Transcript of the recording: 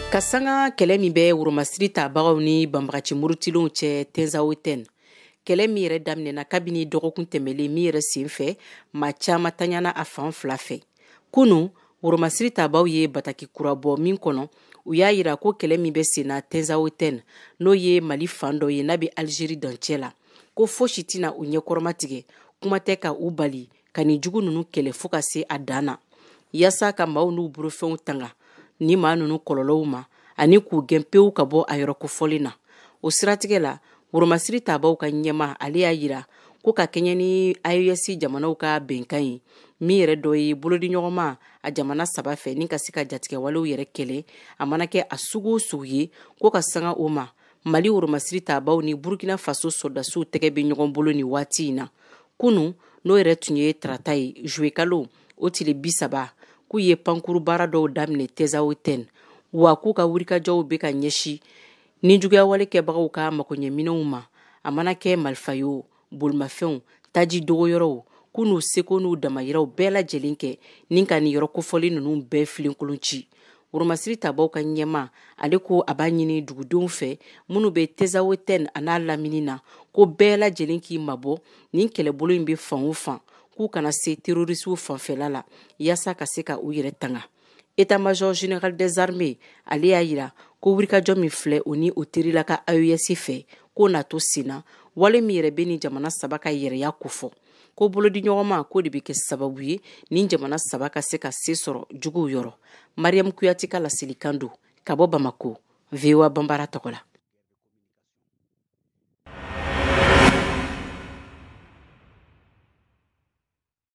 ka sanga kɛlɛ min bɛ woromasiri tabagaw ni banbagaci murutilenw cɛ tenzawotɛn kɛlɛ min yɛrɛ daminɛna kabini dɔgɔkun tɛmɛlen min yɛrɛ sen fɛ maa caaman tanyana a fan fila fɛ kunu woromasiri tabaw ye bataki kura bɔ min kɔnɔ u y'a yira ko kɛlɛ min bɛ senna tenzawotɛn n'o ye mali fan dɔ ye n'a bɛ alizeri dancɛ la ko fosi tɛna u ɲɛkɔrɔma tigɛ kuma tɛ ka u bali ka nin jugu ninnu kɛlɛ fo ka se a dan na yaasa ka maaw n'u bolofɛnw tanga ni maa ninnu kɔlɔlɔw ma ani k'u gɛn pewu ka bɔ a yɔrɔ kofɔlen na o siratigɛ la woromasiri tabaw ka ɲɛmaa ale y'a yira ko ka kɛɲɛ ni aes jamanaw ka bɛnkan ye min yɛrɛ dɔ ye bolodiɲɔgɔnma a jamana saba fɛ ni ka se ka jatigɛwalew yɛrɛ kɛlɛ a mana kɛ a sugu o sugu ye ko ka sanga o ma mali woromasiri tabaw ni burkina faso sɔrɔdasiw tɛgɛ bɛ ɲɔgɔn bolo nin waati in na kunu n'o yɛrɛ tun ye tarata ye zuwekalo o tile bi saba k'u ye pankuru baara dɔw daminɛ tenzawotɛn wa k'u ka wulikajɔw bɛ ka ɲɛsin nin juguyawale kɛbagaw ka makoɲɛminɛnw ma a mana kɛ malifa ye o bolimafɛnw taji dogoyɔrɔw k'u n'u seko n'u damayiraw bɛɛ lajɛlen kɛ ni ka nin yɔrɔ kofɔlen ninnu bɛɛ filenkolon ci woromasiri tabaw ka ɲɛmaa ale ko a b'a ɲini dugudenw fɛ minnu bɛ tenzawotɛn a n'a lamini na ko bɛɛ lajɛlen k'i mabɔ nin kɛlɛbolo in bɛ fan o fan k'u kana se terorisiw fanfɛla la yaasa ka se ka u yɛrɛ tanga état major général des armées ale y'a yira ko wulikajɔ min filɛ o ni o terila ka aes fɛ k'o na to senna wale min yɛrɛ bɛ nin jamana saba ka yɛrɛya kofɔ ko bolodiɲɔgɔnma k'o de bɛ kɛ sababu ye nin jamana saba ka se ka se sɔrɔ juguw yɔrɔ mariyamu kuyate ka laselikan don ka bɔ bamako voa banbara tɔgɔ la